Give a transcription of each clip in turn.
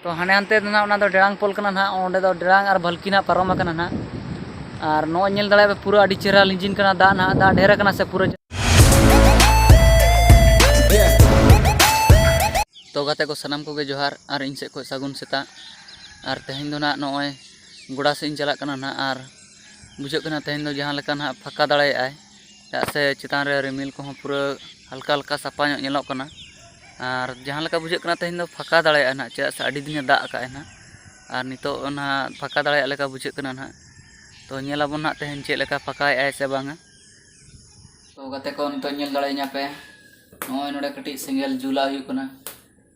ᱛᱚ ᱦᱟᱱᱮ ᱦᱟᱱᱛᱮ ᱫᱚ ᱱᱟᱦᱟᱜ ᱚᱱᱟ ᱫᱚ ᱰᱮᱲᱟᱝ ᱯᱳᱞ ᱠᱟᱱᱟ ᱱᱟᱦᱟᱜ ᱚᱸᱰᱮ ᱫᱚ ᱰᱮᱲᱟᱝ ᱟᱨ ᱵᱷᱟᱞᱠᱤ ᱱᱟᱦᱟᱜ ᱯᱟᱨᱚᱢ ᱟᱠᱟᱱᱟ ᱱᱟᱦᱟᱜ ᱟᱨ ᱱᱚᱜᱼᱚᱭ ᱧᱮᱞ ᱫᱟᱲᱮᱭᱟᱜ ᱯᱮ ᱯᱩᱨᱟᱹ ᱟᱹᱰᱤ ᱪᱮᱦᱨᱟ ᱞᱤᱸᱡᱤᱱ ᱠᱟᱱᱟ ᱫᱟᱜ ᱱᱟᱦᱟᱜ ᱫᱟᱜ ᱰᱷᱮᱨ ᱟᱠᱟᱱᱟ ᱥᱮ ᱯᱩᱨᱟᱹ ᱛᱚ ᱜᱟᱛᱮ ᱠᱚ ᱥᱟᱱᱟᱢ ᱠᱚᱜᱮ ᱡᱚᱦᱟᱨ ᱟᱨ ᱤᱧ ᱥᱮᱫ ᱠᱷᱚᱱ ᱥᱟᱹᱜᱩᱱ ᱥᱮᱛᱟᱜ ᱟᱨ ᱛᱮᱦᱮᱧ ᱫᱚ ᱱᱟᱦᱟᱜ ᱱᱚᱜᱼᱚᱭ ᱜᱚᱰᱟ ᱥᱮᱫ ᱤᱧ ᱪᱟᱞᱟᱜ ᱠᱟᱱᱟ ᱱᱟᱦᱟᱜ ᱟᱨ ᱵᱩᱡᱷᱟᱹᱜ ᱠᱟᱱᱟ ᱛᱮᱦᱮᱧ ᱫᱚ ᱡᱟᱦᱟᱸ ᱞᱮᱠᱟ ᱱᱟᱦᱟᱜ ᱯᱷᱟᱸᱠᱟ ᱫᱟᱲᱮᱭᱟᱜᱼᱟᱭ ᱪᱮᱫᱟᱜ ᱥᱮ ᱪᱮᱛᱟᱱ ᱨᱮ ᱨᱤᱢᱤᱞ ᱠᱚᱦᱚᱸ ᱯᱩᱨᱟᱹ ᱦᱟᱞᱠᱟ ᱦᱟᱞᱠᱟ ᱥᱟᱯᱷᱟ ᱧᱚᱜ ᱧᱮᱞᱚᱜ ᱠᱟᱱᱟ ᱟᱨ ᱡᱟᱦᱟᱸ ᱞᱮᱠᱟ ᱵᱩᱡᱷᱟᱹᱜ ᱠᱟᱱᱟ ᱛᱮᱦᱮᱧ ᱫᱚ ᱯᱷᱟᱸᱠᱟ ᱫᱟᱲᱮᱭᱟᱜᱼᱟ ᱱᱟᱦᱟᱜ ᱪᱮᱫᱟᱜ ᱥᱮ ᱟᱹᱰᱤ ᱫᱤᱱᱮ ᱫᱟᱜ ᱟᱠᱟᱫ ᱟᱭ ᱱᱟᱦᱟᱜ ᱟᱨ ᱱᱤᱛᱚᱜ ᱚᱱᱟ ᱯᱷᱟᱸᱠᱟ ᱫᱟᱲᱮᱭᱟᱜ ᱞᱮᱠᱟ ᱵᱩᱡᱷᱟᱹᱜ ᱠᱟᱱᱟ ᱱᱟᱦᱟᱜ ᱛᱚ ᱧᱮᱞ ᱟᱵᱚᱱ ᱱᱟᱦᱟᱜ ᱛᱮᱦᱮᱧ ᱪᱮᱫ ᱞᱮᱠᱟ ᱯᱷᱟᱸᱠᱟᱭᱮᱫ ᱟᱭ ᱥᱮ ᱵᱟᱝᱟ ᱛᱚ ᱜᱟᱛᱮ ᱠᱚ ᱱᱤᱛᱚᱜ ᱧᱮᱞ ᱫᱟᱲᱮᱭᱤᱧᱟᱹ ᱯᱮ ᱱᱚᱜᱼᱚᱭ ᱱᱚᱰᱮ ᱠᱟᱹᱴᱤᱡ ᱥᱮᱸᱜᱮᱞ ᱡᱩᱞᱟᱜ ᱦᱩᱭᱩᱜ ᱠᱟᱱᱟ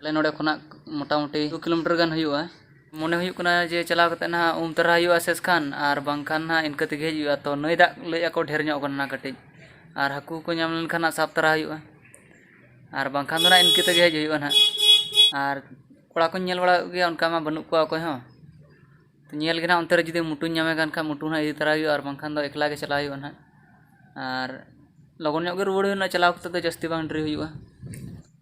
ᱟᱞᱮ ᱱᱚᱰᱮ ᱠᱷᱚᱱᱟᱜ ᱢᱚᱴᱟᱢᱩᱴᱤ ᱫᱩ ᱠᱤᱞᱳᱢᱤᱴᱟᱨ ᱜᱟᱱ ᱦᱩᱭᱩᱜᱼᱟ ᱢᱚᱱᱮ ᱦᱩᱭᱩᱜ ᱠᱟᱱᱟ ᱡᱮ ᱪᱟᱞᱟᱣ ᱠᱟᱛᱮ ᱱᱟᱦᱟᱜ ᱩᱢ ᱛᱟᱨᱟ ᱦᱩᱭᱩᱜᱼᱟ ᱥᱮᱥ ᱠᱷᱟᱱ ᱟᱨ ᱵᱟᱝᱠᱷᱟᱱ ᱱᱟᱦᱟᱜ ᱤᱱᱠᱟᱹ ᱛᱮᱜᱮ ᱦᱮᱡ ᱦᱩᱭᱩᱜᱼᱟ ᱛᱚ ᱱᱟᱹᱭ ᱫᱟᱜ ᱞᱟᱹᱭᱮᱫ ᱟᱠᱚ ᱰᱷᱮᱨ ᱧᱚᱜ ᱠᱟᱱᱟ ᱠᱟᱹᱴᱤᱡ ᱟᱨ ᱦᱟᱹᱠᱩ ᱠᱚ ᱧᱟᱢ ᱞᱮᱱᱠᱷᱟᱱ ᱱᱟᱦᱟᱜ ᱥᱟᱵ ᱛᱟᱨᱟ ᱦᱩᱭᱩᱜᱼᱟ ᱟᱨ ᱵᱟᱝᱠᱷᱟᱱ ᱫᱚ ᱱᱟᱦᱟᱜ ᱤᱱᱠᱟᱹ ᱛᱮᱜᱮ ᱦᱮᱡ ᱦᱩᱭᱩᱜᱼᱟ ᱱᱟᱦᱟᱜ ᱟᱨ ᱠᱚᱲᱟ ᱠᱚᱧ ᱧᱮᱞ ᱵᱟᱲᱟ ᱠᱮᱫ ᱠᱚᱜᱮᱭᱟ ᱚᱱᱠᱟ ᱢᱟ ᱵᱟᱹᱱᱩᱜ ᱠᱚᱣᱟ ᱚᱠᱚᱭ ᱦᱚᱸ ᱧᱮᱞ ᱜᱮ ᱱᱟᱦᱟᱜ ᱚᱱᱛᱮ ᱨᱮ ᱡᱩᱫᱤ ᱢᱩᱴᱩᱧ ᱧᱟᱢᱮ ᱠᱟᱱ ᱠᱷᱟᱱ ᱢᱩᱴᱩ ᱱᱟᱦᱟᱜ ᱤᱫᱤ ᱛᱟᱨᱟᱭᱮ ᱦᱩᱭᱩᱜᱼᱟ ᱟᱨ ᱵᱟᱝᱠᱷᱟᱱ ᱫᱚ ᱮᱠᱞᱟ ᱜᱮ ᱪᱟᱞᱟᱣ ᱦᱩᱭᱩᱜᱼᱟ ᱱᱟᱦᱟᱜ ᱟᱨ ᱞᱚᱜᱚᱱ ᱧᱚᱜ ᱜᱮ ᱨᱩᱣᱟᱹᱲ ᱦᱩᱭᱩᱜᱼᱟ ᱪᱟᱞᱟᱣ ᱠᱟᱛᱮ ᱫᱚ ᱡᱟᱹᱥᱛᱤ ᱵᱟᱝ ᱰᱮᱨᱤ ᱦᱩᱭᱩᱜᱼᱟ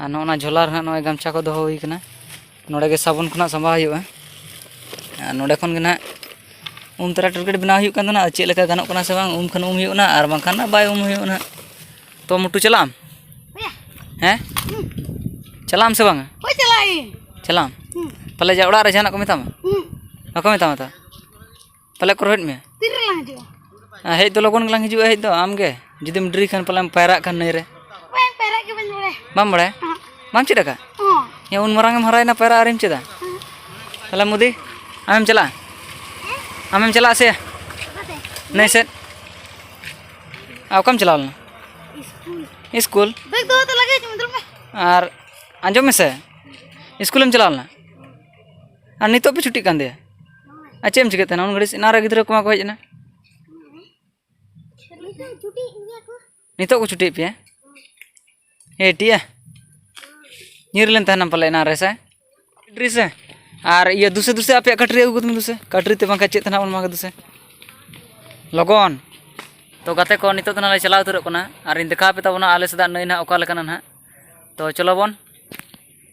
ᱟᱨ ᱱᱚᱜᱼᱚ ᱱᱟ ᱡᱷᱚᱞᱟ ᱨᱮ ᱦᱟᱸᱜ ᱱᱚᱜᱼᱚᱭ ᱜᱟᱢᱪᱷᱟ ᱠᱚ ᱫᱚᱦᱚ ᱦᱩᱭ ᱠᱟᱱᱟ ᱱᱚᱰᱮ ᱜᱮ ᱥᱟᱵᱚᱱ ᱠᱷᱚᱱᱟᱜ ᱥᱟᱢᱵᱟᱣ ᱦᱩᱭᱩᱜᱼᱟ ᱟᱨ ᱱᱚᱰᱮ ᱠᱷᱚᱱ ᱜᱮ ᱦᱟᱸᱜ ᱩᱢ ᱛᱚᱨᱟ ᱴᱚᱭᱞᱮᱴ ᱵᱮᱱᱟᱣ ᱦᱩᱭᱩᱜ ᱠᱟᱱ ᱛᱟᱦᱮᱱᱟ ᱟᱫᱚ ᱪᱮᱫ ᱞᱮᱠᱟ ᱜᱟᱱᱚᱜ ᱠᱟᱱᱟ ᱥᱮ ᱵᱟᱝ ᱩᱢ ᱠᱷᱟᱱ ᱩᱢ ᱦᱩᱭᱩᱜ ᱠᱟᱱᱟ ᱟᱨ ᱵᱟᱝᱠᱷᱟᱱ ᱫᱚ ᱵᱟᱭ ᱩᱢ ᱦᱩᱭᱩᱜᱼᱟ ᱦᱟᱸᱜ ᱛᱚ ᱢᱩᱴᱩ ᱪᱟᱞᱟᱜ ᱟᱢ ᱦᱮᱸ ᱪᱟᱞᱟᱜ ᱟᱢ ᱥᱮ ᱵᱟᱝᱟ ᱦᱳᱭ ᱪᱟᱞᱟᱜ ᱟᱹᱧ ᱪᱟᱞᱟᱜ ᱟᱢ ᱯᱟᱞᱮ ᱡᱟ ᱚᱲᱟᱜ ᱨᱮ ᱡᱟᱦᱟᱱᱟᱜ ᱠᱚ ᱢᱮᱛᱟᱢᱟ ᱵᱟᱠᱚ ᱢᱮᱛᱟᱢᱟ ᱛᱚ ᱯᱟᱞᱮ ᱠᱚ ᱨᱚᱦᱮᱫ ᱢᱮᱭᱟ ᱛᱤᱨᱮ ᱞᱟᱝ ᱦᱤᱡᱩᱜᱼᱟ ᱦᱮᱡ ᱫᱚ ᱞᱚᱜᱚᱱ ᱜᱮᱞᱟᱝ ᱦᱤᱡᱩᱜᱼᱟ ᱦᱮᱡ ᱫᱚ ᱟᱢᱜᱮ ᱡᱩᱫᱤᱢ ᱰᱨᱤ ᱠᱷᱟᱱ ᱯᱟᱞᱮᱢ ᱯᱟᱭᱨᱟᱜ ᱠᱷᱟᱱ ᱱᱟᱹᱭ ᱨᱮ ᱵᱟᱝ ᱯᱟᱭᱨᱟᱜ ᱜᱮ ᱵᱟᱹᱧ ᱵᱟᱲᱟᱭᱟ ᱵᱟᱢ ᱵᱟᱲᱟᱭᱟ ᱵᱟᱢ ᱪᱮᱫ ᱟᱠᱟᱫ ᱦᱮᱸ ᱩᱱ ᱢᱟᱨᱟᱝ ᱮᱢ ᱦᱟᱨᱟᱭᱮᱱᱟ ᱯᱟᱭᱨᱟᱜ ᱟᱨᱮᱢ ᱪᱮᱫᱟ ᱛᱟᱦᱞᱮ ᱢᱩᱫᱤ ᱟᱢᱮᱢ ᱪᱟᱞᱟᱜᱼᱟ ᱟᱢᱮᱢ ᱪᱟᱞᱟᱜᱼᱟ ᱥᱮ ᱱᱟᱹᱭ ᱥᱮᱫ ᱟᱨ ᱚᱠᱟᱢ ᱪᱟᱞᱟᱣ ᱞᱮᱱᱟ ᱥᱠᱩᱞ ᱟᱨ ᱟᱸᱡᱚᱢ ᱢᱮᱥᱮ ᱥᱠᱩᱞᱮᱢ ᱪᱟᱞᱟᱣ ᱞᱮᱱᱟ ᱟᱨ ᱱᱤᱛᱚᱜ ᱯᱮ ᱪᱷᱩᱴᱤᱜ ᱠᱟᱱ ᱛᱮ ᱟᱨ ᱪᱮᱫ ᱮᱢ ᱪᱤᱠᱟᱹᱭᱮᱫ ᱛᱟᱦᱮᱱᱟ ᱩᱱ ᱜᱷᱟᱹᱲᱤᱡ ᱮᱱᱟᱝ ᱨᱮ ᱜᱤᱫᱽᱨᱟᱹ ᱠᱚᱢᱟ ᱠᱚ ᱦᱮᱡ ᱮᱱᱟ ᱱᱤᱛᱚᱜ ᱠᱚ ᱪᱷᱩᱴᱤᱭᱮᱫ ᱯᱮᱭᱟ ᱦᱮ ᱴᱤᱭᱟ ᱧᱤᱨ ᱞᱮᱱ ᱛᱟᱦᱮᱱᱟᱢ ᱯᱟᱞᱮ ᱮᱱᱟᱝ ᱨᱮ ᱥᱮ ᱠᱟᱴᱨᱤ ᱥᱮ ᱟᱨ ᱤᱭᱟᱹ ᱫᱩᱥᱮ ᱫᱩᱥᱮ ᱟᱯᱮᱭᱟᱜ ᱠᱟᱴᱨᱤ ᱟᱹᱜᱩ ᱠᱟᱛᱮ ᱫᱩᱥᱮ ᱠᱟᱴᱨᱤ ᱛᱮ ᱵᱟᱝᱠᱷᱟᱱ ᱪᱮᱫ ᱛᱟᱦᱮᱱᱟ ᱚᱱᱟ ᱫᱩᱥᱮ ᱞᱚᱜᱚᱱ ᱛᱚ ᱜᱟᱛᱮ ᱠᱚ ᱱᱤᱛᱚᱜ ᱫᱚ ᱱᱟᱦᱟᱜ ᱞᱮ ᱪᱟᱞᱟᱣ ᱩᱛᱟᱹᱨᱚᱜ ᱠᱟᱱᱟ ᱟᱨᱤᱧ ᱫᱮᱠᱷᱟᱣ ᱯᱮ ᱛᱟᱵᱚᱱᱟ ᱟᱞᱮ ᱥᱮᱫᱟᱜ ᱱᱟᱹᱭ ᱱᱟᱦᱟᱜ ᱚᱠᱟ ᱞᱮᱠᱟᱱᱟ ᱱᱟᱦᱟᱜ ᱛᱚ ᱪᱚᱞᱚ ᱵᱚᱱ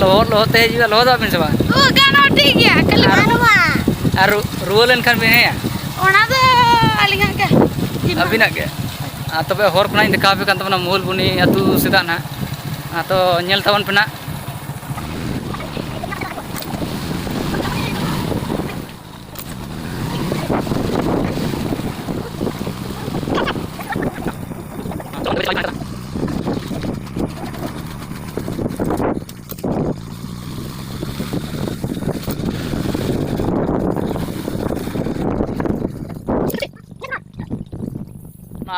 ᱞᱚᱦᱚᱫ ᱞᱚᱦᱚᱫ ᱛᱮ ᱦᱤᱡᱩᱜᱼᱟ ᱞᱚᱦᱚᱫᱚᱜ ᱟᱵᱤᱱ ᱥᱮ ᱵᱟᱝ ᱳ ᱜᱟᱱᱚᱜ ᱴᱷᱤᱠ ᱜᱮᱭᱟ ᱠᱷᱟᱹᱞᱤ ᱵᱟᱹᱱᱩᱜᱼᱟ ᱟᱨ ᱨᱩᱣᱟᱹ ᱞᱮᱱᱠᱷᱟᱱ ᱵᱤᱱ ᱦᱮᱸᱭᱟ ᱚᱱᱟ ᱫᱚ ᱟᱹᱞᱤᱧᱟᱜ ᱜᱮ ᱟᱹᱵᱤᱱᱟᱜ ᱜᱮ ᱟᱨ ᱛᱚᱵᱮ ᱦᱚᱨ ᱠᱷᱚᱱᱟᱜ ᱤᱧ ᱫᱮᱠᱷᱟᱣ ᱟᱯᱮ ᱠᱟᱱ ᱛᱟᱵᱚᱱᱟ ᱢᱩᱦᱩᱞ ᱵᱩᱱᱤ ᱟᱹᱛᱩ ᱥᱮᱫᱟᱜ ᱱᱟᱦᱟᱜ ᱟᱫᱚ ᱧᱮᱞ ᱛᱟᱵᱚᱱ ᱯᱮ ᱱᱟᱦᱟᱜ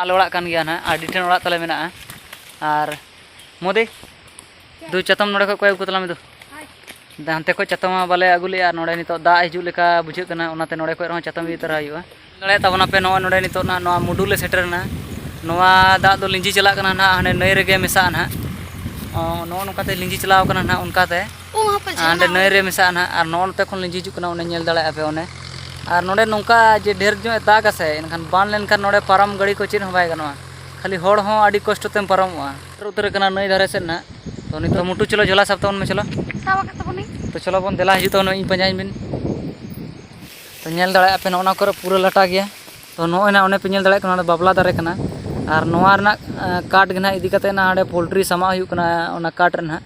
ᱟᱞᱮ ᱚᱲᱟᱜ ᱠᱟᱱ ᱜᱮᱭᱟ ᱱᱟᱦᱟᱜ ᱟᱹᱰᱤ ᱴᱷᱮᱱ ᱚᱲᱟᱜ ᱛᱟᱞᱮ ᱢᱮᱱᱟᱜᱼᱟ ᱟᱨ ᱢᱳᱫᱤ ᱫᱩ ᱪᱟᱛᱚᱢ ᱱᱚᱰᱮ ᱠᱷᱚᱡ ᱠᱚᱭ ᱟᱹᱜᱩ ᱛᱟᱞᱟᱝ ᱢᱮ ᱫᱩ ᱦᱟᱱᱛᱮ ᱠᱷᱚᱡ ᱪᱟᱛᱚᱢ ᱢᱟ ᱵᱟᱞᱮ ᱟᱹᱜᱩ ᱞᱮᱜᱼᱟ ᱱᱚᱰᱮ ᱱᱤᱛᱚᱜ ᱫᱟᱜ ᱦᱤᱡᱩᱜ ᱞᱮᱠᱟ ᱵᱩᱡᱷᱟᱹᱜ ᱠᱟᱱᱟ ᱚᱱᱟᱛᱮ ᱱᱚᱰᱮ ᱠᱷᱚᱡ ᱨᱮᱦᱚᱸ ᱪᱟᱛᱚᱢ ᱤᱫᱤ ᱛᱟᱨᱟ ᱦᱩᱭᱩᱜᱼᱟ ᱫᱟᱲᱮᱭᱟᱜ ᱛᱟᱵᱚᱱᱟ ᱯᱮ ᱱᱚᱜᱼᱚᱭ ᱱᱚᱰᱮ ᱱᱤᱛᱚᱜ ᱱᱟᱜ ᱱᱚᱣᱟ ᱢᱩᱰᱩ ᱞᱮ ᱥᱮᱴᱮᱨᱮᱱᱟ ᱱᱚᱣᱟ ᱫᱟᱜ ᱫᱚ ᱞᱤᱸᱡᱤ ᱪᱟᱞᱟᱜ ᱠᱟᱱᱟ ᱱᱟᱜ ᱦᱟᱸᱰᱮ ᱱᱟᱹᱭ ᱨᱮᱜᱮ ᱢᱮᱥᱟᱜᱼᱟ ᱱᱟᱜ ᱱᱚᱜᱼᱚ ᱱᱚᱝᱠᱟᱛᱮ ᱞᱤᱸᱡᱤ ᱪᱟᱞᱟᱣ ᱠᱟᱱᱟ ᱱᱟᱜ ᱚᱱᱠᱟᱛᱮ ᱦᱟᱸᱰᱮ ᱱᱟᱹᱭ ᱨᱮ ᱢᱮᱥᱟᱜᱼᱟ ᱱᱟᱜ ᱟᱨ ᱱᱚᱜᱼᱚ ᱱᱚᱛᱮ ᱠᱷᱚᱱ ᱞᱤᱸᱡᱤ ᱦᱤᱡᱩᱜ ᱠᱟᱱᱟ ᱚᱱᱮ ᱧᱮᱞ ᱫᱟᱲᱮᱭᱟᱜᱼᱟ ᱯᱮ ᱚᱱᱮ ᱟᱨ ᱱᱚᱰᱮ ᱱᱚᱝᱠᱟ ᱡᱮ ᱰᱷᱮᱨ ᱧᱚᱜ ᱮ ᱫᱟᱜᱟ ᱥᱮ ᱮᱱᱠᱷᱟᱱ ᱵᱟᱱ ᱞᱮᱱᱠᱷᱟᱱ ᱱᱚᱰᱮ ᱯᱟᱨᱚᱢ ᱜᱟᱹᱰᱤ ᱠᱚ ᱪᱮᱫ ᱦᱚᱸ ᱵᱟᱭ ᱜᱟᱱᱚᱜᱼᱟ ᱠᱷᱟᱹᱞᱤ ᱦᱚᱲ ᱦᱚᱸ ᱟᱹᱰᱤ ᱠᱚᱥᱴᱚ ᱛᱮᱢ ᱯᱟᱨᱚᱢᱚᱜᱼᱟ ᱩᱛᱟᱹᱨ ᱠᱟᱱᱟ ᱱᱟᱹᱭ ᱫᱷᱟᱨᱮ ᱥᱮᱫ ᱱᱟᱜ ᱛᱚ ᱱᱤᱛᱚᱜ ᱢᱩᱴᱩ ᱪᱚᱞᱚ ᱡᱷᱚᱞᱟ ᱥᱟᱵ ᱛᱟᱵᱚᱱ ᱢᱮ ᱪᱚᱞᱚ ᱥᱟᱵ ᱟᱠᱟᱫ ᱛᱟᱵᱚᱱᱤᱧ ᱛᱚ ᱪᱚᱞᱚ ᱵᱚᱱ ᱫᱮᱞᱟ ᱦᱤᱡᱩᱜ ᱛᱟᱵᱚᱱ ᱤᱧ ᱯᱟᱸᱡᱟᱭᱤᱧ ᱵᱤᱱ ᱛᱚ ᱧᱮᱞ ᱫᱟᱲᱮᱭᱟᱜ ᱯᱮ ᱱᱚᱜᱼᱚ ᱱᱚᱣᱟ ᱠᱚᱨᱮ ᱯᱩᱨᱟᱹ ᱞᱟᱴᱟ ᱜᱮᱭᱟ ᱛᱚ ᱱᱚᱜᱼᱚᱭ ᱱᱟᱜ ᱚᱱᱮ ᱯᱮ ᱧᱮᱞ ᱫᱟᱲᱮᱭᱟᱜ ᱠᱟᱱᱟ ᱱᱚᱰᱮ ᱵᱟᱵᱞᱟ ᱫᱟᱨᱮ ᱠᱟᱱᱟ ᱟᱨ ᱱᱚᱣᱟ ᱨᱮᱱᱟᱜ ᱠᱟᱴ ᱜᱮ ᱱᱟᱜ ᱤᱫᱤ ᱠᱟᱛᱮᱫ ᱱᱟᱜ ᱚᱸᱰᱮ ᱯᱳᱞᱴᱨᱤ ᱥᱟᱢᱟᱜ ᱦᱩᱭᱩᱜ ᱠᱟᱱᱟ ᱚᱱᱟ ᱠᱟᱴ ᱨᱮ ᱱᱟᱜ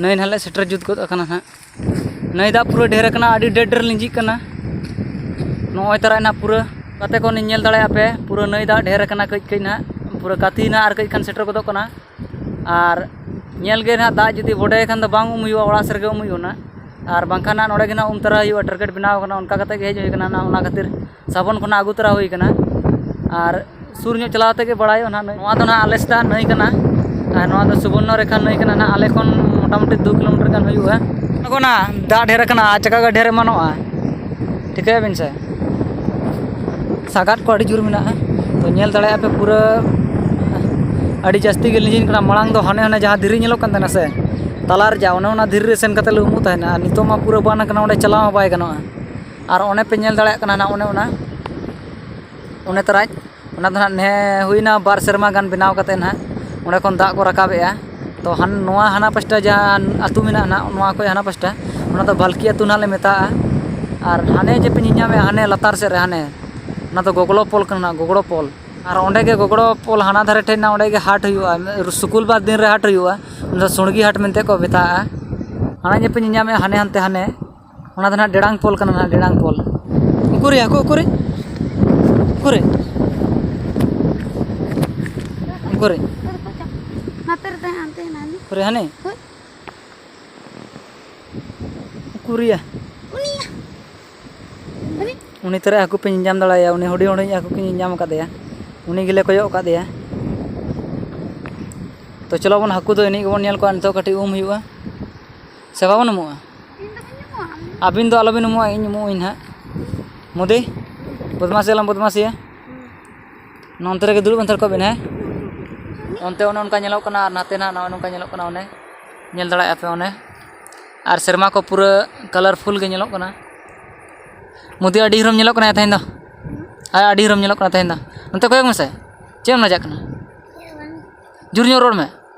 ᱱᱟᱹᱭ ᱱᱟᱦᱟᱜ ᱞᱮ ᱥᱮᱴᱮᱨ ᱡᱩᱛ ᱜᱚᱫ ᱟᱠᱟᱱᱟ ᱱᱟᱦᱟᱜ ᱱᱟᱹᱭ ᱫᱟᱜ ᱯᱩᱨᱟᱹ ᱰᱷᱮᱨ ᱟᱠᱟᱱᱟ ᱟᱹᱰᱤ ᱰᱷᱮᱨ ᱰᱷᱮᱨ ᱞᱤᱸᱡᱤᱜ ᱠᱟᱱᱟ ᱱᱚᱜᱼᱚᱭ ᱛᱟᱨᱟᱭ ᱱᱟᱦᱟᱜ ᱯᱩᱨᱟᱹ ᱜᱟᱛᱮ ᱠᱚ ᱧᱮᱞ ᱫᱟᱲᱮᱭᱟᱜᱼᱟ ᱯᱮ ᱯᱩᱨᱟᱹ ᱱᱟᱹᱭ ᱫᱟᱜ ᱰᱷᱮᱨ ᱟᱠᱟᱱᱟ ᱠᱟᱹᱡ ᱠᱟᱹᱡ ᱱᱟᱦᱟᱜ ᱯᱩᱨᱟᱹ ᱜᱟᱛᱮ ᱱᱟᱦᱟᱜ ᱟᱨ ᱠᱟᱹᱡ ᱠᱷᱟᱱ ᱥᱮᱴᱮᱨ ᱜᱚᱫᱚᱜ ᱠᱟᱱᱟ ᱟᱨ ᱧᱮᱞ ᱜᱮ ᱱᱟᱦᱟᱜ ᱫᱟᱜ ᱡᱩᱫᱤ ᱵᱚᱰᱮᱭ ᱠᱷᱟᱱ ᱫᱚ ᱵᱟᱝ ᱩᱢ ᱦᱩᱭᱩᱜᱼᱟ ᱚᱲᱟᱜ ᱥᱮᱫ ᱨᱮᱜᱮ ᱩᱢ ᱦᱩᱭᱩᱜᱼᱟ ᱱᱟᱦᱟᱜ ᱟᱨ ᱵᱟᱝᱠᱷᱟᱱ ᱱᱟᱦᱟᱜ ᱱᱚᱰᱮ ᱜᱮ ᱱᱟᱦᱟᱜ ᱩᱢ ᱛᱟᱨᱟᱭ ᱦᱩᱭᱩᱜᱼᱟ ᱴᱟᱨᱜᱮᱴ ᱵᱮᱱᱟᱣ ᱠᱟᱱᱟ ᱚᱱᱠᱟ ᱠᱟᱛᱮᱫ ᱜᱮ ᱦᱮᱡ ᱦᱩᱭ ᱠᱟᱱᱟ ᱱᱟᱦᱟᱜ ᱚᱱᱟ ᱠᱷᱟᱹᱛᱤᱨ ᱥᱟᱵᱚᱱ ᱠᱚ ᱱᱟᱦᱟᱜ ᱟᱹᱜᱩ ᱛᱚᱨᱟ ᱦᱩᱭ ᱠᱟᱱᱟ ᱟᱨ ᱥᱩᱨ ᱧᱚᱜ ᱪᱟᱞᱟᱣ ᱠᱟᱛᱮᱫ ᱜᱮ ᱵᱟᱲᱟᱭᱚᱜᱼᱟ ᱱᱟᱦᱟᱜ ᱱᱚᱣᱟ ᱫᱚ ᱱᱟᱦᱟᱜ ᱟᱞᱮ ᱥᱮᱫᱟᱜ ᱱᱟᱹᱭ ᱠᱟᱱᱟ ᱟᱨ ᱱᱚᱣᱟ ᱫᱚ ᱥᱩᱵᱚᱨᱱᱚ ᱨᱮᱠᱷᱟ ᱱᱟᱹᱭ ᱠᱟᱱᱟ ᱱᱟᱦᱟᱜ ᱟᱞᱮ ᱠᱷᱚᱱ ᱢᱳᱴᱟᱢᱩᱴᱤ ᱫᱩ ᱠᱤᱞᱳᱢᱤᱴᱟᱨ ᱜᱟᱱ ᱦᱩᱭᱩᱜᱼᱟ ᱟᱬᱜᱚᱱᱟ ᱫᱟᱜ ᱰᱷᱮᱹᱨ ᱠᱟᱱᱟ ᱟᱪᱠᱟ ᱜᱮ ᱰᱷᱮᱹᱨ ᱮᱢᱟᱱᱚᱜᱼᱟ ᱴᱷᱤᱠᱟᱹᱭᱟᱵᱤᱱ ᱥᱮ ᱥᱟᱸᱜᱟᱫ ᱠᱚ ᱟᱹᱰᱤ ᱡᱳᱨ ᱢᱮᱱᱟᱜᱼᱟ ᱛᱚ ᱧᱮᱞ ᱫᱟᱲᱮᱭᱟᱜᱼᱟ ᱯᱮ ᱯᱩᱨᱟᱹ ᱟᱹᱰᱤ ᱡᱟᱹᱥᱛᱤ ᱜᱮ ᱞᱤᱸᱡᱤᱱ ᱠᱟᱱᱟ ᱢᱟᱲᱟᱝ ᱫᱚ ᱦᱟᱱᱮ ᱦᱟᱱᱮ ᱡᱟᱦᱟᱸ ᱫᱷᱤᱨᱤ ᱧᱮᱞᱚᱜ ᱠᱟᱱ ᱛᱟᱦᱮᱱᱟ ᱥᱮ ᱛᱟᱞᱟ ᱨᱮᱭᱟᱜ ᱚᱱᱮ ᱚᱱᱟ ᱫᱷᱤᱨᱤ ᱨᱮ ᱥᱮᱱ ᱠᱟᱛᱮᱫ ᱞᱮ ᱩᱢᱩᱜ ᱛᱟᱦᱮᱱᱟ ᱟᱨ ᱱᱤᱛᱚᱜ ᱢᱟ ᱯᱩᱨᱟᱹ ᱵᱟᱱ ᱠᱟᱱᱟ ᱚᱸᱰᱮ ᱪᱟᱞᱟᱣ ᱦᱚᱸ ᱵᱟᱭ ᱜᱟᱱᱚᱜᱼᱟ ᱟᱨ ᱚᱱᱮ ᱯᱮ ᱧᱮᱞ ᱫᱟᱲᱮᱭᱟᱜ ᱠᱟᱱᱟ ᱚᱱᱮ ᱚᱱᱟ ᱚᱱᱮ ᱛᱚᱨᱟᱡᱽ ᱚᱱᱟ ᱫᱚ ᱦᱟᱸᱜ ᱱᱮ ᱦᱩᱭᱱᱟ ᱵᱟᱨ ᱥᱮᱨᱢᱟ ᱜᱟᱱ ᱵᱮᱱᱟᱣ ᱠᱟᱛᱮᱫ ᱦᱟᱸᱜ ᱚᱸᱰᱮ ᱠᱷᱚᱱ ᱫᱟᱜ ᱠᱚ ᱨᱟᱠᱟᱵᱮᱜᱼᱟ ᱛᱚ ᱱᱚᱣᱟ ᱦᱟᱱᱟ ᱯᱟᱥᱴᱟ ᱡᱟᱦᱟᱸ ᱟᱹᱛᱩ ᱢᱮᱱᱟᱜᱼᱟ ᱦᱟᱸᱜ ᱱᱚᱣᱟ ᱠᱷᱚᱡ ᱦᱟᱱᱟ ᱯᱟᱥᱴᱟ ᱚᱱᱟ ᱫᱚ ᱵᱷᱟᱞᱠᱤ ᱟᱹᱛᱩ ᱦᱟᱸᱜ ᱞᱮ ᱢᱮᱛᱟᱜᱼᱟ ᱟᱨ ᱦᱟᱱᱮ ᱡᱮ ᱯᱮ ᱧᱮᱧᱟᱢᱮᱜᱼᱟ ᱦᱟᱱᱮ ᱞᱟᱛᱟᱨ ᱥᱮᱫ ᱨᱮ ᱦᱟᱱᱮ ᱚᱱᱟ ᱫᱚ ᱜᱚᱜᱽᱲᱚ ᱯᱳᱞ ᱠᱟᱱᱟ ᱜᱚᱜᱽᱲᱚ ᱯᱳᱞ ᱟᱨ ᱚᱸᱰᱮ ᱜᱮ ᱜᱚᱜᱽᱲᱚ ᱯᱳᱞ ᱦᱟᱱᱟ ᱫᱷᱟᱨᱮ ᱴᱷᱮᱡ ᱦᱮᱱᱟᱜᱼᱟ ᱚᱸᱰᱮ ᱜᱮ ᱦᱟᱴ ᱦᱩᱭᱩᱜᱼᱟ ᱥᱩᱠᱩᱞ ᱵᱟᱨ ᱫᱤᱱ ᱨᱮ ᱦᱟᱴ ᱦᱩᱭᱩᱜᱼᱟ ᱚᱱᱟ ᱫᱚ ᱥᱩᱬᱜᱤ ᱦᱟᱴ ᱢᱮᱱᱛᱮ ᱠᱚ ᱢᱮᱛᱟᱜᱼᱟ ᱦᱟᱱᱮ ᱡᱮ ᱯᱮ ᱧᱮᱧᱟᱢᱮᱜᱼᱟ ᱦᱟᱱᱮ ᱦᱟᱱᱛᱮ ᱦᱟᱱᱮ ᱚᱱᱟ ᱫᱚ ᱦᱟᱸᱜ ᱰᱮᱲᱟᱝ ᱯᱳᱞ ᱠᱟᱱᱟ ᱦᱟᱸᱜ ᱰᱮᱲᱟᱝ ᱯᱳᱞ ᱩᱠᱩᱨᱭᱟ ᱦᱟᱹᱠᱩ ᱩᱠᱩᱨᱮ ᱩᱠᱩᱨᱮ ᱩᱠᱩᱨᱮ ᱩᱠᱩᱨᱮ ᱦᱟᱹᱱᱤ ᱩᱠᱩᱨᱭᱟ ᱩᱱᱤ ᱛᱚᱨᱟ ᱦᱟᱹᱠᱩ ᱯᱮ ᱧᱟᱢ ᱫᱟᱲᱮᱭᱟᱭᱟ ᱩᱱᱤ ᱦᱩᱰᱤᱧ ᱦᱩᱰᱤᱧ ᱦᱟᱹᱠᱩ ᱠᱚ ᱧᱟᱢ ᱟᱠᱟᱫᱮᱭᱟ ᱩᱱᱤ ᱜᱮᱞᱮ ᱠᱚᱭᱚᱜ ᱟᱠᱟᱫᱮᱭᱟ ᱛᱚ ᱪᱚᱞᱚ ᱵᱚᱱ ᱦᱟᱹᱠᱩ ᱫᱚ ᱮᱱᱮᱡ ᱜᱮᱵᱚᱱ ᱧᱮᱞ ᱠᱚᱣᱟ ᱱᱤᱛᱚᱜ ᱠᱟᱹᱴᱤᱡ ᱩᱢ ᱦᱩᱭᱩᱜᱼᱟ ᱥᱮ ᱵᱟᱵᱚᱱ ᱩᱢᱩᱜᱼᱟ ᱟᱹᱵᱤᱱ ᱫᱚ ᱟᱞᱚᱵᱤᱱ ᱩᱢᱩᱜᱼᱟ ᱤᱧ ᱩᱢᱩᱜ ᱟᱹᱧ ᱦᱟᱸᱜ ᱢᱳᱫᱤ ᱵᱚᱫᱢᱟᱥᱤ ᱟᱞᱚᱢ ᱵᱚᱫᱢᱟᱥᱤᱭᱟ ᱱᱚᱱᱛᱮ ᱨᱮᱜᱮ ᱫᱩᱲᱩᱵ ᱦᱟᱛᱟᱲ ᱠᱚᱜ ᱵᱤᱱ ᱦᱮᱸ ᱚᱱᱛᱮ ᱚᱱᱮ ᱚᱱᱠᱟ ᱧᱮᱞᱚᱜ ᱠᱟᱱᱟ ᱟᱨ ᱱᱟᱛᱮ ᱱᱟᱜ ᱱᱚᱜᱼᱚ ᱱᱚᱝᱠᱟ ᱧᱮᱞᱚᱜ ᱠᱟᱱᱟ ᱚᱱᱮ ᱧᱮᱞ ᱫᱟᱲᱮᱭᱟᱜᱼᱟ ᱯᱮ ᱚᱱᱮ ᱟᱨ ᱥᱮᱨᱢᱟ ᱠᱚ ᱯᱩᱨᱟᱹ ᱠᱟᱞᱟᱨᱯᱷᱩᱞ ᱜᱮ ᱧᱮᱞᱚᱜ ᱠᱟᱱᱟ ᱢᱳᱫᱤ ᱟᱹᱰᱤ ᱦᱤᱨᱳᱢ ᱧᱮᱞᱚᱜ ᱠᱟᱱᱟᱭᱟ ᱛᱮᱦᱮᱧ ᱫᱚ ᱟᱨ ᱟᱹᱰᱤ ᱦᱤᱨᱳᱢ ᱧᱮᱞᱚᱜ ᱠᱟᱱᱟ ᱛᱮᱦᱮᱧ ᱫᱚ ᱱᱚᱛᱮ ᱠᱚᱭᱚᱜᱽ ᱢᱮᱥᱮ ᱪᱮᱫ ᱮᱢ ᱞᱟᱡᱟᱜ ᱠᱟᱱᱟ ᱡᱳᱨ ᱧᱚᱜ ᱨᱚᱲ ᱢᱮ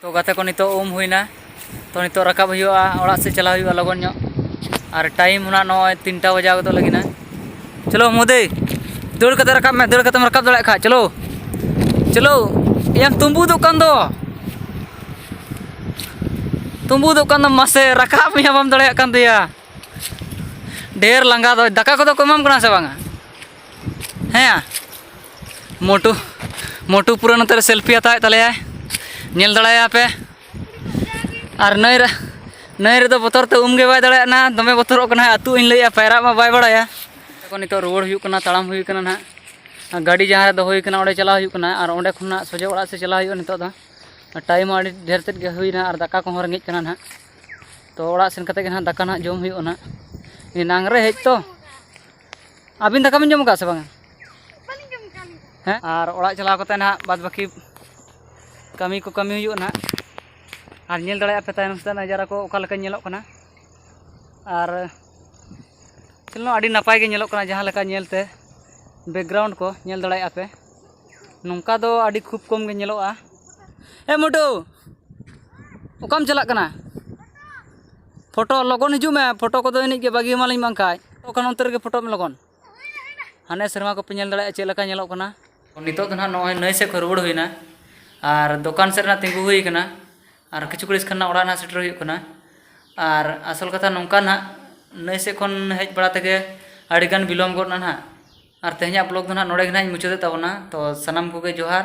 ᱛᱚ ᱜᱟᱛᱮ ᱠᱚ ᱱᱤᱛᱚᱜ ᱩᱢ ᱦᱩᱭᱱᱟ ᱛᱚ ᱱᱤᱛᱚᱜ ᱨᱟᱠᱟᱵ ᱦᱩᱭᱩᱜᱼᱟ ᱚᱲᱟᱜ ᱥᱮᱫ ᱪᱟᱞᱟᱣ ᱦᱩᱭᱩᱜᱼᱟ ᱞᱚᱜᱚᱱ ᱧᱚᱜ ᱟᱨ ᱴᱟᱭᱤᱢ ᱦᱚᱸ ᱱᱚᱜᱼᱚᱭ ᱛᱤᱱᱴᱟ ᱵᱟᱡᱟᱣ ᱜᱚᱫᱚᱜ ᱞᱟᱹᱜᱤᱫᱼᱟ ᱪᱚᱞᱚ ᱢᱳᱫᱤ ᱫᱟᱹᱲ ᱠᱟᱛᱮ ᱨᱟᱠᱟᱵ ᱢᱮ ᱫᱟᱹᱲ ᱠᱟᱛᱮᱢ ᱨᱟᱠᱟᱵ ᱫᱟᱲᱮᱭᱟᱜ ᱠᱷᱟᱡ ᱪᱚᱞᱚ ᱪᱚᱞᱚ ᱮᱭᱟᱢ ᱛᱩᱢᱵᱩᱫᱚᱜ ᱠᱟᱱ ᱫᱚ ᱛᱩᱢᱵᱩᱫᱚᱜ ᱠᱟᱱ ᱫᱚᱢ ᱢᱟᱥᱮ ᱨᱟᱠᱟᱵ ᱢᱮᱭᱟ ᱵᱟᱢ ᱫᱟᱲᱮᱭᱟᱜ ᱠᱟᱱ ᱫᱚᱭᱟ ᱰᱷᱮᱨ ᱞᱟᱸᱜᱟ ᱫᱚ ᱫᱟᱠᱟ ᱠᱚᱫᱚ ᱠᱚ ᱮᱢᱟᱢ ᱠᱟᱱᱟ ᱥᱮ ᱵᱟᱝᱟ ᱦᱮᱸ ᱭᱟ ᱢᱳᱴᱩ ᱢᱳᱴᱩ ᱯᱩᱨᱟᱹ ᱱᱚᱛᱮ ᱨᱮ ᱥᱮᱞᱯᱷᱤ ᱦᱟᱛᱟᱣᱮᱫ ᱛᱟᱞᱮᱭᱟᱭ ᱧᱮᱞ ᱫᱟᱲᱮᱭᱟᱭᱟ ᱯᱮ ᱟᱨ ᱱᱟᱹᱭ ᱨᱮ ᱱᱟᱹᱭ ᱨᱮᱫᱚ ᱵᱚᱛᱚᱨ ᱛᱮ ᱩᱢ ᱜᱮ ᱵᱟᱭ ᱫᱟᱲᱮᱭᱟᱜ ᱠᱟᱱᱟ ᱫᱚᱢᱮ ᱵᱚᱛᱚᱨᱚᱜ ᱠᱟᱱᱟ ᱟᱹᱛᱩᱜ ᱤᱧ ᱞᱟᱹᱭᱮᱫᱼᱟ ᱯᱟᱭᱨᱟᱜ ᱢᱟ ᱵᱟᱭ ᱵᱟᱲᱟᱭᱟ ᱛᱚᱠᱷᱚᱱ ᱱᱤᱛᱚᱜ ᱨᱩᱣᱟᱹᱲ ᱦᱩᱭᱩᱜ ᱠᱟᱱᱟ ᱛᱟᱲᱟᱢ ᱦᱩᱭ ᱠᱟᱱᱟ ᱱᱟᱦᱟᱜ ᱜᱟᱹᱰᱤ ᱡᱟᱦᱟᱸ ᱨᱮ ᱫᱚᱦᱚ ᱦᱩᱭ ᱠᱟᱱᱟ ᱚᱸᱰᱮ ᱪᱟᱞᱟᱣ ᱦᱩᱭᱩᱜ ᱠᱟᱱᱟ ᱟᱨ ᱚᱸᱰᱮ ᱠᱷᱚᱱᱟᱜ ᱥᱚᱡᱷᱮ ᱚᱲᱟᱜ ᱥᱮᱫ ᱪᱟᱞᱟᱣ ᱦᱩᱭᱩᱜᱼᱟ ᱱᱤᱛᱚᱜ ᱫᱚ ᱴᱟᱭᱤᱢ ᱦᱚᱸ ᱟᱹᱰᱤ ᱰᱷᱮᱨ ᱛᱮᱫ ᱜᱮ ᱦᱩᱭᱱᱟ ᱟᱨ ᱫᱟᱠᱟ ᱠᱚᱦᱚᱸ ᱨᱮᱸᱜᱮᱡ ᱠᱟᱱᱟ ᱱᱟᱦᱟᱜ ᱛᱚ ᱚᱲᱟᱜ ᱥᱮᱱ ᱠᱟᱛᱮᱫ ᱜᱮ ᱱᱟᱦᱟᱜ ᱫᱟᱠᱟ ᱱᱟᱦᱟᱜ ᱡᱚᱢ ᱦᱩᱭᱩᱜᱼᱟ ᱱᱟᱦᱟᱜ ᱮᱱᱟᱝ ᱨᱮ ᱦᱮᱡ ᱛᱚ ᱟᱹᱵᱤᱱ ᱫᱟᱠᱟ ᱵᱤᱱ ᱡᱚᱢ ᱟᱠᱟᱫ ᱥᱮ ᱵᱟᱝᱟ ᱦᱮᱸ ᱟᱨ ᱚᱲᱟᱜ ᱪᱟᱞᱟᱣ ᱠᱟᱛᱮ ᱱᱟᱦᱟᱜ ᱵᱟᱫ ᱵᱟᱹᱠᱤ ᱠᱟᱹᱢᱤ ᱠᱚ ᱠᱟᱹᱢᱤ ᱦᱩᱭᱩᱜᱼᱟ ᱱᱟᱦᱟᱜ ᱟᱨ ᱧᱮᱞ ᱫᱟᱲᱮᱭᱟᱜᱼᱟ ᱯᱮ ᱛᱟᱭᱚᱢ ᱥᱮᱫ ᱱᱟᱡᱟᱨᱟ ᱠᱚ ᱚᱠᱟ ᱞᱮᱠᱟ ᱧᱮᱞᱚᱜ ᱠᱟᱱᱟ ᱟᱨ ᱪᱚᱞᱚ ᱟᱹᱰᱤ ᱱᱟᱯᱟᱭ ᱜᱮ ᱧᱮᱞᱚᱜ ᱠᱟᱱᱟ ᱡᱟᱦᱟᱸ ᱞᱮᱠᱟ ᱧᱮᱞᱛᱮ ᱵᱮᱠᱜᱨᱟᱣᱩᱱᱰ ᱠᱚ ᱧᱮᱞ ᱫᱟᱲᱮᱭᱟᱜᱼᱟ ᱯᱮ ᱱᱚᱝᱠᱟ ᱫᱚ ᱟᱹᱰᱤ ᱠᱷᱩᱵ ᱠᱚᱢ ᱜᱮ ᱧᱮᱞᱚᱜᱼᱟ ᱮ ᱢᱩᱴᱩ ᱚᱠᱟᱢ ᱪᱟᱞᱟᱜ ᱠᱟᱱᱟ ᱯᱷᱳᱴᱳ ᱞᱚᱜᱚᱱ ᱦᱤᱡᱩᱜ ᱢᱮ ᱯᱷᱳᱴᱳ ᱠᱚᱫᱚ ᱮᱱᱮᱡ ᱜᱮ ᱵᱟᱹᱜᱤ ᱟᱢᱟᱞᱤᱧ ᱵᱟᱝᱠᱷᱟᱡ ᱛᱚᱠᱷᱚᱱ ᱚᱱᱛᱮ ᱨᱮᱜᱮ ᱯᱷᱳᱴᱳᱜ ᱢᱮ ᱞᱚᱜᱚᱱ ᱦᱟᱱᱮ ᱥᱮᱨᱢᱟ ᱠᱚᱯᱮ ᱧᱮᱞ ᱫᱟᱲᱮᱭᱟᱜᱼᱟ ᱪᱮᱫ ᱞᱮᱠᱟ ᱧᱮᱞᱚᱜ ᱠᱟᱱᱟ ᱱᱤᱛᱚᱜ ᱫᱚ ᱱᱟᱦᱟᱜ ᱱᱚᱜᱼᱚᱭ ᱱᱟᱹᱭ ᱥᱮᱫ ᱠᱷᱚᱱ ᱨᱩᱣᱟᱹᱲ ᱦᱩᱭᱱᱟ ᱟᱨ ᱫᱚᱠᱟᱱ ᱥᱮᱫ ᱨᱮ ᱛᱤᱸᱜᱩ ᱦᱩᱭ ᱠᱟᱱᱟ ᱟᱨ ᱠᱤᱪᱷᱩ ᱜᱷᱟᱹᱲᱤᱡ ᱠᱷᱟᱱ ᱱᱟᱦᱟᱜ ᱚᱲᱟᱜ ᱱᱟᱦᱟᱜ ᱥᱮᱴᱮᱨ ᱦᱩᱭᱩᱜ ᱠᱟᱱᱟ ᱟᱨ ᱟᱥᱚᱞ ᱠᱟᱛᱷᱟ ᱱᱚᱝᱠᱟ ᱱᱟᱦᱟᱜ ᱱᱟᱹᱭ ᱥᱮᱫ ᱠᱷᱚᱱ ᱦᱮᱡ ᱵᱟᱲᱟ ᱛᱮᱜᱮ ᱟᱹᱰᱤ ᱜᱟᱱ ᱵᱤᱞᱚᱢ ᱜᱚᱫ ᱮᱱᱟ ᱱᱟᱦᱟᱜ ᱟᱨ ᱛᱮᱦᱮᱧᱟᱜ ᱵᱞᱚᱜᱽ ᱫᱚ ᱱᱟᱦᱟᱜ ᱱᱚᱰᱮ ᱜᱮ ᱱᱟᱦᱟᱜ ᱤᱧ ᱢᱩᱪᱟᱹᱫᱮᱫ ᱛᱟᱵᱚᱱᱟ ᱛᱚ ᱥᱟᱱᱟᱢ ᱠᱚᱜᱮ ᱡᱚᱦᱟᱨ